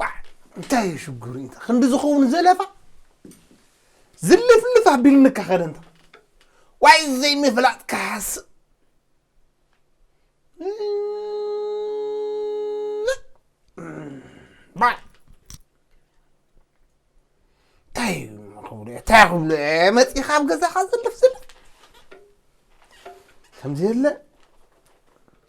ቋዕ እንታይ እዩ ሽግሩ እንተ ክንዲ ዝኸውን ዘለፋ ዝልፍልፍ ኣቢልንካ ኸደ እንተ ዋይ ዘይምፍላጥ ክሓስብ ባይ እንታይ እዩ ክብሉ እየ እንታይ ክብሉ እየ መፂኻ ኣብ ገዛኻ ዝልፍ ዝልፍ ከምዚ የለ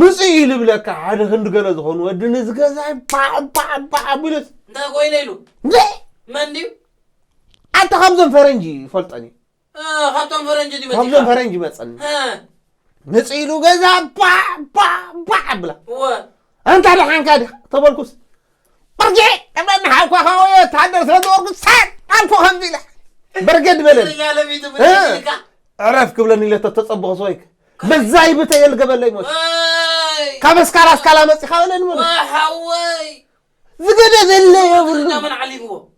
ምጽእ እዩ ልብለካ ሓደ ክንዲ ገለ ዝኾኑ ወዲ ንዝገዛይ ባዕባዕባዕ ኣቢሉስ እንታይ ኮይነ ኢሉ መን ድዩ ኣታ ካብዞም ፈረንጂ ይፈልጦን እዩ ካብቶም ፈረንጂ እዚ መፂኻ ካብዞም ፈረንጂ መፀኒ ምፅእ ኢሉ ገዛ ባዕባዕባዕ ኣብላ ኣንታ ደሓንካ ዲኻ ተበልኩስ በርጅዒ እመኒ ሓውካ ከወዮ ወተሃደር ስለ ዝወርዱ ሳድ ኣልኩ ከምዚ ኢለ በርገድ በለኒ እኛ ለሚቱ እ፣ ብትሽልካ ዕረፍ ክብለኒ ኢለ ተተጸብኹ ሰወይክ በዛይ ብተ የልገበለይ ሞት ወይ ካብ እስካላ እስካላ መጺኻ በለኒ ሞት ወይ ሓወይ ዝገደ ዘለ የብሉ እኛ መን ዓሊምዎ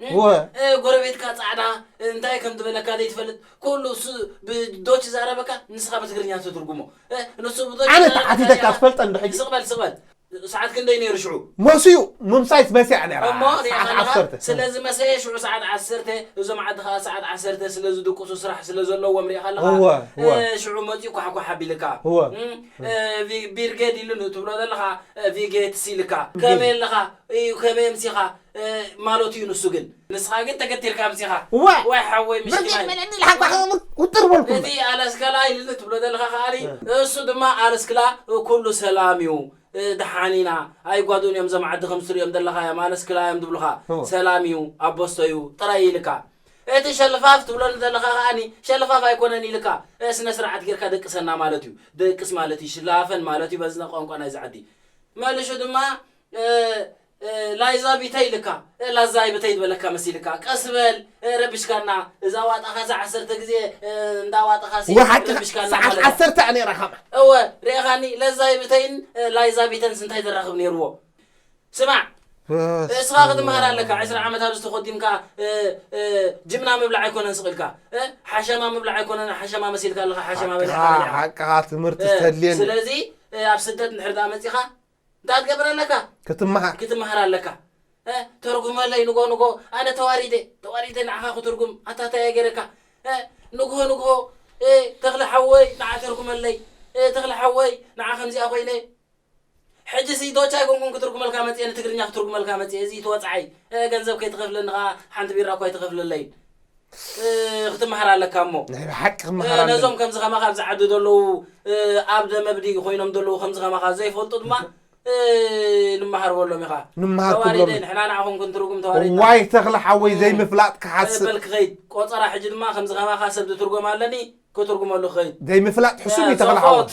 እወ። ን ጎረቤትካ ጻዕዳ እንታይ ከም ዝበለካ ዘይትፈልጥ ኩሉ እሱ ብ ዶች ይዛረበካ ንስካ ብትግርኛ ትትርጉሞ እ ንሱ ብ ዶች ኣነ ይዛረበካ ተሓቲተካ ዲካ ትፈልጠ እንዶ ሕጂ? ስቅ በል ስቅ በል ሰዓት ክንደይ ነይሩ ሽዑ? መሲዩ ምምሳይስ መሲያ እያ ነይራ እሞ ሪኢኻ ሰዓት ኣለኻ ዓሰርተ። ስለ ዝመሰየ ሽዑ ሰዓት ዓሰርተ እዞም ዓዲ ከኣ ሰዓት ዓሰርተ ስለ ዝድቅሱ ስራሕ ስለ ዘለዎም ሪኢኻ ኣለኻ እወ እወ እ ሽዑ መጺኡ ኳሕኳሕ ኣቢልካ እወ እ እ ቪ ቢርጌድ ኢሉ ን ትብሎ ዘለኻ እ ቪጌትስ ኢልካ ከመይ ኣለኻ ኢዩ ከመይ ኣምሲኻ ማለቱ እዩ ንሱ ግን ንስኻ ግን ተገቲርካ ኣምጺኻ እወ ዋይ ሓወይ በዚ ምስኪናይ ዕድመ ልዕሊ ኢልካ እም ክምውት ውጥር በልኩ እቲ እምበር። ኣለስከላ ኢልኒ ትብሎ ዘለኻ ከኣኒ እሱ ድማ ኣለስክላ ኩሉ ሰላም እዩ ደሓን ኢና ኣይጓዱኡን እዮም እዞም ዓዲ ከምዚ ትርእዮም ዘለኻዮም ኣለስክላ እዮም ዝብሉኻ እወ። ሰላም እዩ ኣቦስቶ እዩ ጥራይ እዩ ኢልካ እቲ ሸልፋፍ ትብለኒ ዘለኻ ከኣኒ ሸልፋፍ ኣይኮነን ኢልካ ስነስርዓት ጌርካ ደቅሰና ማለት እዩ ደቅስ ማለት እዩ ሽላፈን ማለት እዩ በዚ ቋንቋ ናይዚ ዓዲ መልሹ ድማ እእ ላይዛ ቢተይ ልካ እእ ላዛይ ብተይ ዝበለካ መሲልካ ቀስ በል እእ ረብሽካና እዛ ዋጣካ እዛ ዓሰርተ ግዜ እእ እንዳ ዋጥካ ሲ እወ ሓቅካ ረብሽካና ሰዓት ማለታ ዓሰርተ እያ ነይራ ከማን እወ ርኤኻኒ ለዛይ ብተይን እእ ላይዛ ቢተንስ እንታይ ዘራኽብ ነይርዎ ስማዕ እእ እስኻ ክትምሃር ኣለካ ዕስራ ዓመት ኣብዚ ተኾዲምካ እእ እእ ጅምና ምብላዕ ኣይኮነን ስቕ ኢልካ እእ ሓሸማ ምብላዕ ኣይኮነን ሓሸማ መሲልካ ኣለኻ ሓሸማ በሊዕካ ሓቅኻ በሊዕኻ ሓቅኻ ትምህርቲ እእ ተድልየኒ ስለዚ እእ ኣብ ስደት እንድሕር ደኣ መጺኻ እንታይ ትገብር ኣለካ ክትምሃር ክትምሃር ኣለካ እ ተርጉመለይ ንጎ ንጎ ኣነ ተዋሪደ ተዋሪደ ንዓኻ ክትርጉም ኣታ ታይ እየ ገይረካ እ ንግሆ ንግሆ እ ተኽለ ሓወይ ንዓ ተርጉመለይ እ ተኽለ ሓወይ ንዓ ከምዚኣ ኮይነ ሕጂ ሲ ዶች ኣይኮንኩን ክትርጉመልካ መጽየ ንትግርኛ ክትርጉመልካ መጽየ እዚ ተወጽዓይ እ ገንዘብ ከይትኸፍለኒ ከኣ ሓንቲ ቢራ እኳ ኣይትኸፍለለይን ክትመሃር ኣለካ እሞ ናይ ብሓቂ ክመሃር ኣለኒ ነዞም ከምዚ ከማኻ ኣብዚ ዓዲ ዘለዉ ኣብ ደመብዲ ኮይኖም ዘለዉ ከምዚ ከማኻ ዘይፈልጡ ድማ ንመሃር በሎም ኢኻ ንመሃር ተዋሪደ ክብሎም ንሕና ንዓኹም ክንትርጉም ተዋሪድና ዋይ ተኽለ ሓወይ እም፣ ዘይምፍላጥ እ፣ ክሓስእ በል ክኸይድ ቆጸራ ሕጂ ድማ ከምዚ ከማኻ ሰብ ዝትርጎም ኣለኒ ክትርጉመሉ ክኸይድ ዘይምፍላጥ ሕሱም እዩ ተኽለ ሓወይ ጸብኦት